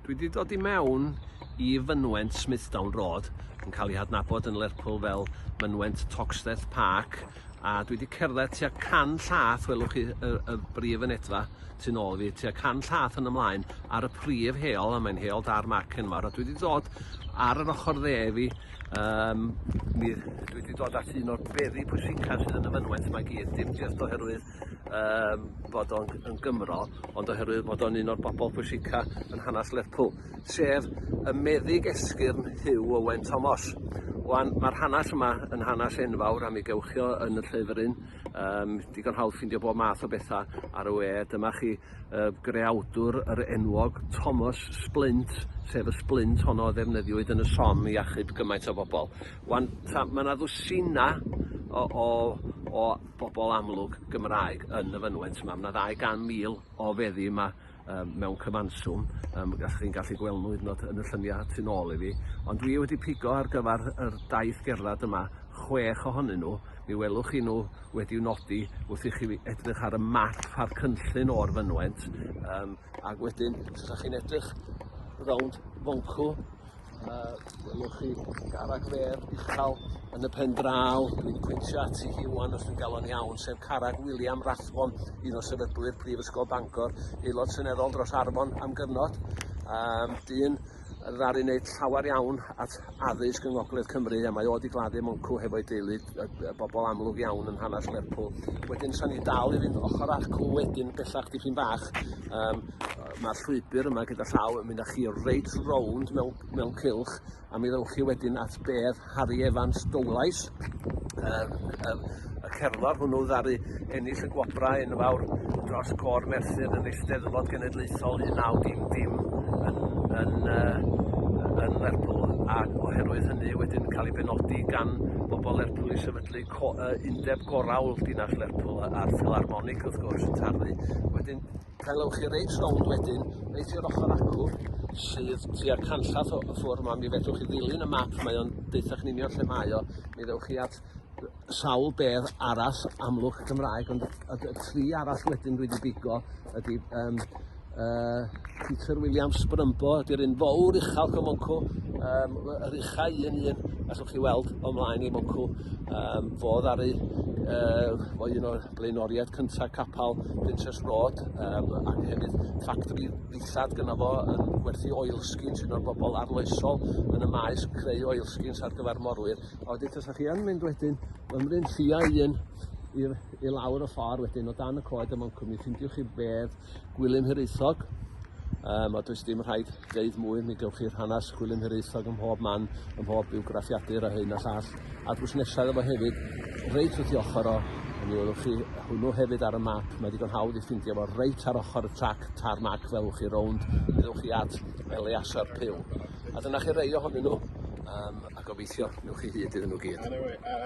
Dwi wedi dod i mewn i fynwent Smithdown Road, yn cael ei hadnabod yn Lerpwl fel mynwent Toxteth Park, a dwi wedi cerdded tua can llath, welwch chi y, y brif yn edfa tu'n ôl fi, tua can llath yn ymlaen ar y prif heol, a mae'n heol dar mac enwar, a dwi wedi dod ar yr ochr dde fi, um, mi, dwi wedi dod at un o'r beri pwysica sydd yn y fynwent mae gyd, dim jyst oherwydd yym bod o'n yn Gymro, ond oherwydd bod o'n un o'r bobol pwysica yn hanas Lerpwl, sef y meddyg esgyrn Huw Owen Thomas. Wan, mae'r hanas yma yn hanas enfawr a mi gewch chi o yn y llyfr un. Um, digon hawdd ffindio bob math o bethau ar y we. Dyma chi uh, greawdwr yr enwog Thomas Splint, sef y splint honno ddefnyddiwyd yn y som i achub gymaint o bobl. Wan, mae yna ddwsina o, o, o bobol amlwg Gymraeg yn y fynwent 'ma ma' 'na ddau gan mil o feddi yma yym mewn cyfanswm yym dach chi'n gallu gweld nhw hyd yn o'd yn y llynia tu nôl i fi ond dwi wedi pigo ar gyfar yr daith gerddad yma chwech ohonyn nhw mi welwch chi nhw wedi'w nodi wrth i chi fi- edrych ar y map a'r cynllun o'r fynwent yym Ac wedyn, os ydych chi'n edrych rownd Fonco, yy welwch chi carreg fer uchel yn y pen draw, dwi'n pwyntio ati hi ŵan os dwi'n galw o'n iawn, sef carreg William Rathbon, un o sefydlwyr Prifysgol Bangor, aelod seneddol dros Arfon am gyfnod, um, dyn ddaru wneud llawer iawn at addysg yng Ngogledd Cymru a mae o wedi gladdu Moncw hefo'i deulu y, y bobl amlwg iawn yn hanes Lerpwl. Wedyn sa'n ni dal i fynd ochr acw wedyn bellach dipyn bach. Um, Mae'r llwybr yma gyda llaw yn mynd â chi reit rownd mewn, mewn cilch a mi ddewch chi wedyn at bedd Harri Evans Dowlais yr yr y cerddor hwnnw ddaru ennill y gwobrau yn fawr dros Côr Merthyr yn Eisteddfod Genedlaethol 1900 yn yn uh, yn Lerpwl a oherwydd hynny wedyn cael ei benodi gan bobl Lerpwl i sefydlu co, uh, undeb gorau dinas Lerpwl a'r Philharmonic wrth gwrs yn tarfu wedyn Helewch chi reit rownd wedyn, reit i'r ochr acw, sydd tua canllath o ffwrdd yma, mi fedrwch chi ddilyn y map, mae o'n deutha chi'n union lle mae o, mi ddewch chi at sawl bedd arall amlwg Gymraeg, ond y, y, y tri arall wedyn dwi wedi bigo ydy um, uh, Peter Williams Brymbo, ydy'r un fawr uchel o Moncw, um, yr uchau un un, allwch chi weld o mlaen i Moncw, um, fo ddaru, uh, o un o'r blaenoriaid cyntaf capal Princess Road um, ac hefyd ffactori ddillad gyda fo yn gwerthu oilskins un o'r bobl arloesol yn y maes creu oilskins ar gyfer morwyr. A wedi tasa chi yn mynd wedyn ymryn lliau un i, i lawr y ffordd wedyn o dan y coed y moncwm i ffindiwch chi fedd Gwilym Hiraethog, um, a does dim rhaid deud mwy, mi gewch chi'r hanes Gwilym Hiraethog ym mhob man, ym mhob biwgraffiadur a hyn a llall, a'r busnesau efo hefyd, reit wrth i ochr o, mi welwch chi hwnnw hefyd ar y map, mae digon hawdd i ffindio fo reit ar ochr y trac tarmac fel chi rownd, mi ddewch chi at Eleasar Pyw. A dyna chi rei ohonyn nhw, um, a gobeithio newch chi hyd iddyn nhw gyd.